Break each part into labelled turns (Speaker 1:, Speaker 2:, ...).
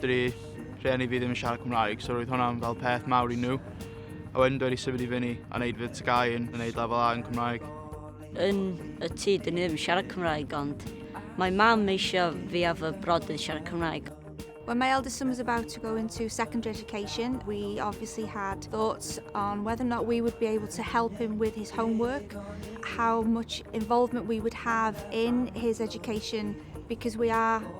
Speaker 1: Dydy rhieni fi ddim yn siarad Cymraeg so roedd hwnna'n fel peth mawr i nhw. A wedyn dwi wedi symud i fyny a wneud fy TGAU yn wneud lefel A yn Cymraeg. Yn
Speaker 2: y tŷ dyn ni ddim yn siarad Cymraeg ond mae mam eisiau fi a fy brodyr siarad Cymraeg. When my eldest son
Speaker 3: was about to go into secondary education, we obviously had thoughts on whether or not we would be able to help him with his homework, how much involvement we would have in his education, because we are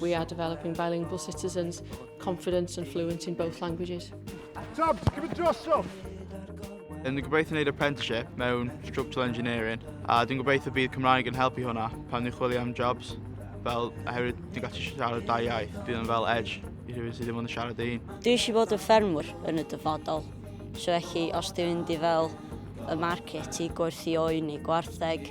Speaker 4: We are developing bilingual citizens, confident and fluent in both languages. Tom, ti'n cymryd
Speaker 5: drosof? Yn
Speaker 1: gobeithio wneud apprenticeship mewn structural engineering a dwi'n gobeithio bydd Cymraeg yn helpu hwnna pan ni'n chwilio am jobs fel oherwydd dwi'n gallu siarad da iaith bydd yn fel edge i rhywun sydd ddim ond yn siarad ei hun. Dwi eisiau bod yn ffermwr
Speaker 2: yn y dyfodol so felly os dwi'n mynd i fel y market i gwerthu oen neu gwartheg